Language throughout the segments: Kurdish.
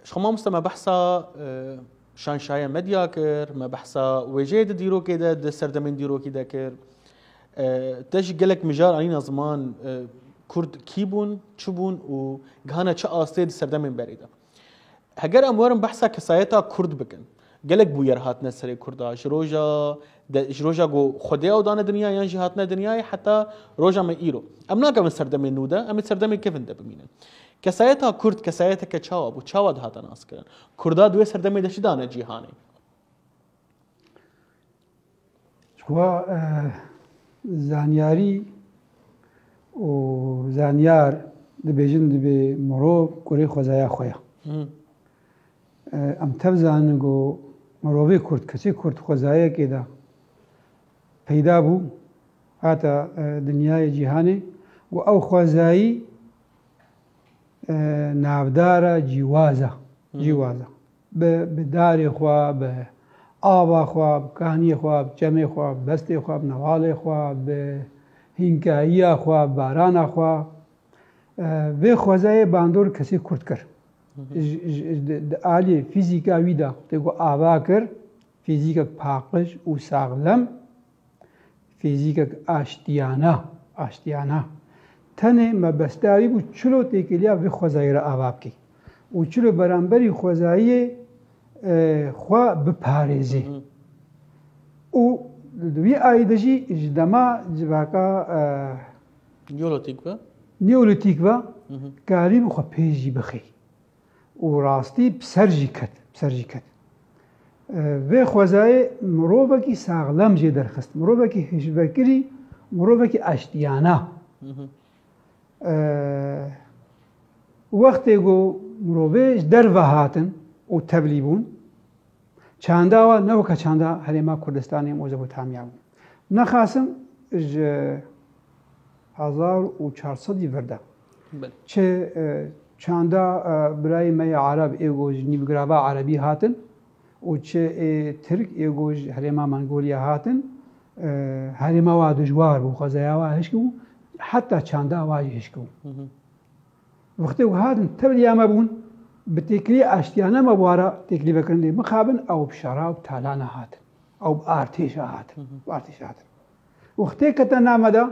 Ji xwe mamoste me behsa şanşaya medya kir, me behsa wêjeyê di dîrokê de di serdemên dîrokî de kir. Te jî gelek mijar anîna ziman Kurd kî bûn, çi bûn û gihana çi astê di serdemên berê de. Heger em werin behsa kesayeta Kurd bikin, Gelek bûyer hatine serê Kurda ji roja ji roja ku Xwedê ew dane dinya yan jî hatine dinyayê heta roja me îro. Em nakevin serdemê nû de, em ê serdemê kevin de bimînin. Kesayeta Kurd kesayeteke çawa bû, çawa dihate naskirin? Kurda di wê serdemê de çi dane cîhanê? Xwe zanyarî û zanyar dibêjin dibê mirov kurê xwezaya xwe ye. Em tev zanin ku mirovê kurd, kesê kurd xwezayekê de peyda bû hata dinyayê cîhanê ku ew xwezayî navdara cîwaza cîwaza. Bi bi darê xwe, bi ava xwe, bi kaniyê xwe, bi çemê xwe, bi bestê xwe, bi nevalê xwe, bi hînkayiya xwe, bi barana xwe. Vê xwezayê bandor kesê kurt kir. Di aliyê fîzîka wî de tê ku ava kir, fîzîkek paqij û saxlem Fîzîkek aştiyana, aştiyana, tenê mebesta wî bû çilo têkiliya vê xwezayî re ava bikî û çilo beramberî xwezayiyê xwe biparêzê. Û di wî ayî de jî ji dema civaka Neolîtîk ve Neolîtîk ve karî bû xwe pêş jî bixî. û rastî bi ser jî ket, bi ser jî ket. Vê xwezayê mirovekî saxlem jê derxist, mirovekî hişvekirî, mirovekî eştiyana. Wextê ku mirovê ji derve hatin û tevlî bûn, çanda wan ne weke çanda Herêma Kurdistanê Mezopotamya bûn. Nexasim ji hezar û çar sedî vir de Çi çanda birayê me yê Arab ê ku ji nîvgirava Erebî hatin û çi ê Tirk ê ku ji herêma Mongolya hatin, herêma wa dijwar bû, xwezaya wa hişk bû, heta çanda wa jî hişk bû. Wextê ku hatin tevliya me bûn, bi têkilî aştiyane me bû re têkilî vekirin dê mixabin, ew bi şerab, talana hatin. Ew bi artêşa hatin. Wextê kete name de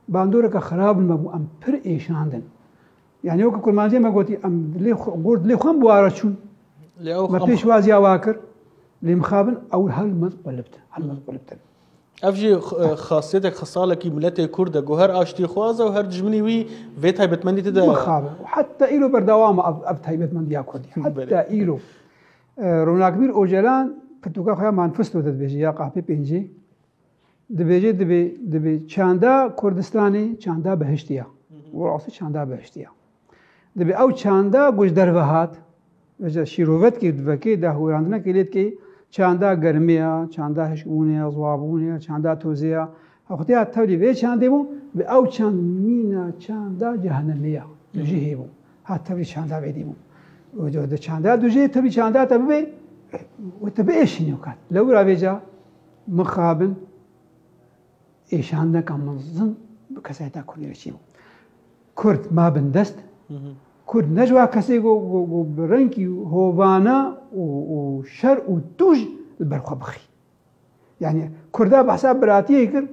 bandoreke xirab me bû em pir êşandin. Yani weke kurmancê me gotî em dilê gor dilê xwe buwara çûn. Me pêşwaziya wa kir lê mixabin ew helmet qulibtin helmet qulibtin. Ev jî xasiyetê xesalekî miletê Kurd e ku her aştîxwaz e û her dijminî wî vê taybetmendî tide mixabe. Heta îro berdewam e ev taybetmendiya Kurdî. Heta îro Ronakbîr Ocalan pirtûka xwe ya manifesto de dibêje ya qapê pêncî Dibêje dibê dibê çanda Kurdistanê çanda behiştî ya. Û rastî çanda behiştî ya. Dibê ew çanda ku ji derve hat ji şîrovetkê divekê dahûrandinek lê dikê çanda germê ya, çanda hişkbûnê ya, ziwabûnê ya, çanda tozê ya. Xwedî ya tevlî vê çandê bû bi ew çand mîna çanda cehenemê ya. Dujî hêbû. Ha tevlî çanda vê dîbû. Di çanda dujê tevlî çanda te bibê wê te biêşînî û kat. Lewra vêca Mixabin êşandeka mezin bi kesayeta Kurdî re çêbû. Kurd ma bin dest, Kurd ne ji wa kesê ku bi rengî hovana û şer û tûj li ber xwe bixî. Yani Kurda behsa biratiyê kir,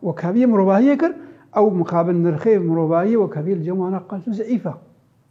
wekheviyê mirovahiyê kir, ew mixabin nirxê mirovahiyê wekheviyê li cem wan a qas û zeîf e.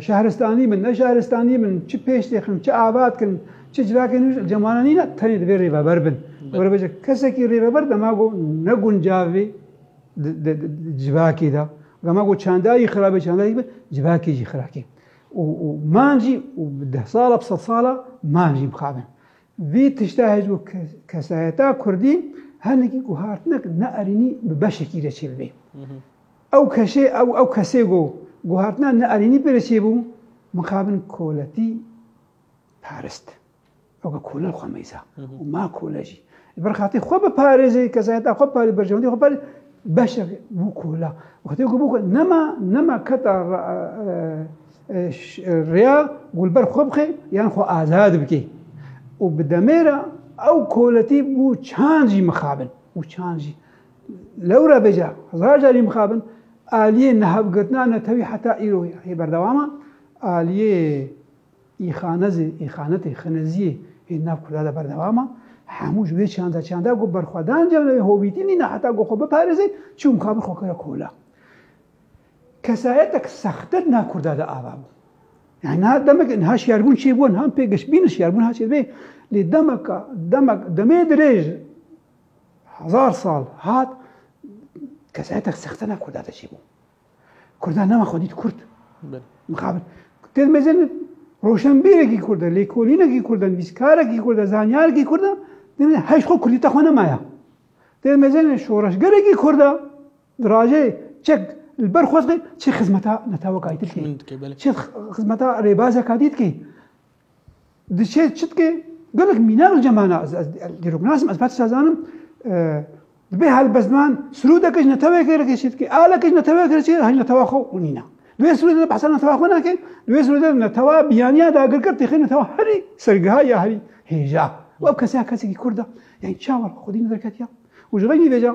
Şehristanî bin, ne şehristanî bin, çi pêş têxin, çi ava dikin, çi civakê nû ji cemana nîne tenê divê rêveber bin. Were kesekî rêveber dema ku ne guncavê civakê de. Dema ku çanda yî xirabê çanda yî bi civakê jî xirakê. û man jî û bi deh sala bi sed sala man jî bixabin. Vî tişta hêj û kesayeta Kurdî henekî ku hatine ne erînî bi beşekî re çêbibê. Ew keşê ew ew kesê go guhartina neerînî pê re çêbû, mixabin koletî parist. Ew ke kole li xwe meyza û ma kole jî. Li ber xatê xwe biparêzê, kesayeta xwe biparêzê, berjewendî xwe biparêzê, beşek bû kola. Wextê ku bû kola, nema nema keta rêya ku li ber xwe bixê yan xwe azad bikê. Û bi demê re ew koletî bû çand jî mixabin û çand jî. Lewra bêje hezar carî mixabin, aliyê nihevgirtina netewî heta îro ye. Hê berdewam e, aliyê îxanezê, îxanetê, xineziyê hê nav Kurda de berdewam e. Hemû ji wê çanda çanda ku berxwedan cem li wê hovîtî nîne heta ku xwe biparêze çû mixabin xwe kire kola. Kesayetek sexte di nav Kurda de ava bû. Yani niha demek niha şiyarbûn çê bû, niha pê giştbînin şiyarbûn niha çê dibê. Lê demeka demek demê dirêj Hezar sal hat kesayetek sexte nav Kurda de çêbû. Kurda nema xwe dît Kurd. Mixabin. Têd mezin roşenbîrekî Kurd e, lêkolînekî Kurd e, nivîskarekî Kurd e, zanyarekî Kurd e, demê heş xwe Kurdî te xwe nemaya. Têd mezin şoreşgerekî Kurd e, dirajê çek li ber xwezqê çi xizmeta netewekayî dikê. Çi xizmeta rêbazeka dî dikê. Diçe çitke gelek mîna li cemana ez dîrok nasim ez betişa zanim dibê helbestman sirûdeke ji netewekê reke çitke aleke ji netewekê re çê haj netewa xwe û nîna. Duê sirûdê de behsa netewa xwe nake, duê sirûdê de netewa biyaniya dagirker têxê netewa herî sergiha ya herî hêja. Ew keseya kesekî kurd e. Yanî çawa xwedî li derketiya û ji rengî vêca